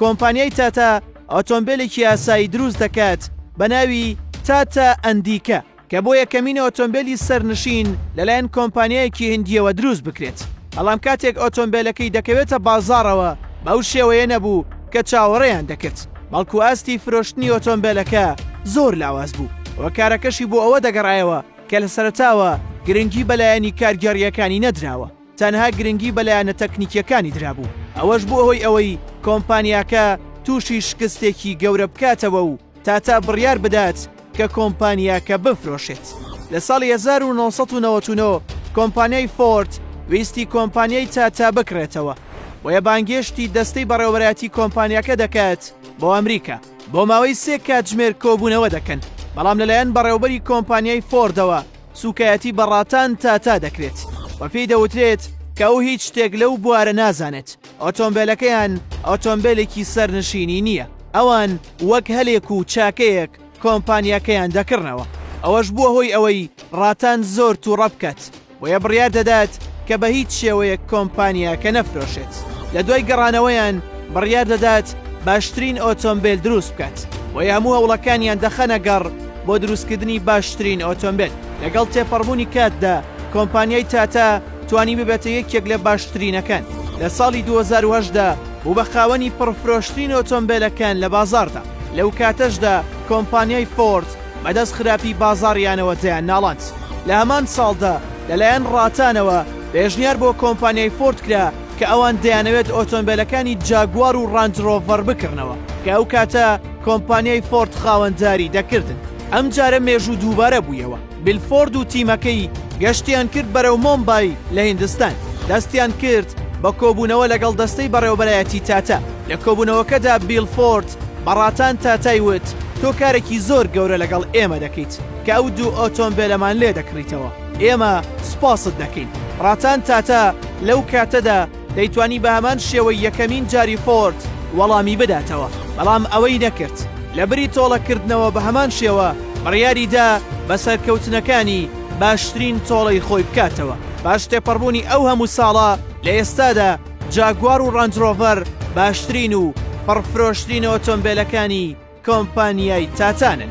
کۆمپانیای تاتا ئۆتۆمبێلێکی ئاسایی دروست دەکات بە ناوی تاتا ئەندیکە کە بۆ یەکەمین ئۆتۆمبێلی سەرنشین لەلایەن کۆمپانیایەکی هندیەوە دروست بکرێت بەڵام کاتێک ئۆتۆمبێلەکەی دەکەوێتە بازاڕەوە بەو شێوەیە نەبوو کە چاوەڕێیان دەکرد بەڵکو ئاستی فرۆشتنی ئۆتۆمبێلەکە زۆر لاواز بوو و کارەکەشی بۆ ئەوە دەگەڕایەوە کە لە سەرتاوە گرنگی بەلایەنی کارگێڕیەکانی نەدراوە تەنها گرنگی بە لایەنە تەکنیکییەکانی درابوو، ئەوەش بووە هۆی ئەوەی کۆمپانیاکە تووشی شکستێکی گەورە بکاتەوە و تاتا بڕیار بدات کە کۆمپانیاکە بفرۆشێت. لە ساڵی هەزار و نۆ سەد و نەوەد و نۆ کۆمپانیای فۆرد ویستی کۆمپانیای تاتا بکڕێتەوە، بۆیە بانگێشتی دەستەی بەڕێوەبەرایەتی کۆمپانیاکە دەکات بۆ ئەمریکا. بۆ ماوەی سێ کاتژمێر کۆبوونەوە دەکەن، بەڵام لەلایەن بەڕێوەبەری کۆمپانیای فۆردەوە سووکایەتی بە ڕاتان تاتا دەکرێت و پێی دەوترێت کە ئەو هیچ شتێک لەو بوارە نازانێت ئۆتۆمبیلەکەیان ئۆتۆمبیلێکی سەرنشینی نییە ئەوان وەک هەلێک و چاکەیەک کۆمپانیاکەیان دەکڕنەوە ئەوەش بووە هۆی ئەوەی ڕاتان زۆر تووڕە بکات بۆیە بڕیار دەدات کە بە هیچ شێوەیەک کۆمپانیاکە نەفرۆشێت لە دوای گەڕانەوەیان بڕیار دەدات باشترین ئۆتۆمبیل دروست بکات بۆیە هەموو هەوڵەکانیان دەخەنە گەڕ بۆ دروستکردنی باشترین ئۆتۆمبێل لەگەڵ تێپەڕبوونی کاتدا کۆمپانیای تاتا توانی ببێتە یەکێک لە باشترینەکان لە ساڵی 2010دا بوو بە خاوەنی پڕفرۆشترین ئۆتۆمبیلەکان لە بازاردا لەو کاتەشدا کۆمپانیای فۆرد بەدەست خراپی بازاڕیانەوە دەیان ناڵاند لە هەمان ساڵدا لەلایەن ڕاتانەوە پێشنیار بۆ کۆمپانیای فۆرد کرا کە ئەوان دەیانەوێت ئۆتۆمبیلەکانی جاگوار و ڕەنجڕۆڤەر بکڕنەوە کە ئەو کاتە کۆمپانیای فۆرد خاوەنداری دەکردن. ئەم جارە مێژوو دووبارە بوویەوە، بیل فۆرد و تیمەکەی گەشتیان کرد بەرەو مۆمبای لە هیندستان، دەستیان کرد بە کۆبوونەوە لەگەڵ دەستەی بەڕێوەبەرایەتی تاتا. لە کۆبوونەوەکەدا بیل فۆرد بە ڕاتان تاتای وت، تۆ کارێکی زۆر گەورە لەگەڵ ئێمە دەکەیت کە ئەو دوو ئۆتۆمبێلەمان لێدەکڕیتەوە، ئێمە سوپاست دەکەین. ڕاتان تاتا لەو کاتەدا، دەیتوانی بە هەمان شێوەی یەکەمین جاری فۆرد وەڵامی بداتەوە، بەڵام ئەوەی نەکرد، لەبری تۆڵەکردنەوە بە هەمان شێوە بڕیاری دا بە سەرکەوتنەکانی باشترین تۆڵەی خۆی بکاتەوە. پاش تێپەڕبوونی ئەو هەموو ساڵە، لە ئێستادا جاگوار و ڕانج ڕۆڤەر باشترین و پڕفرۆشترین ئۆتۆمبێلەکانی کۆمپانیای تاتانن.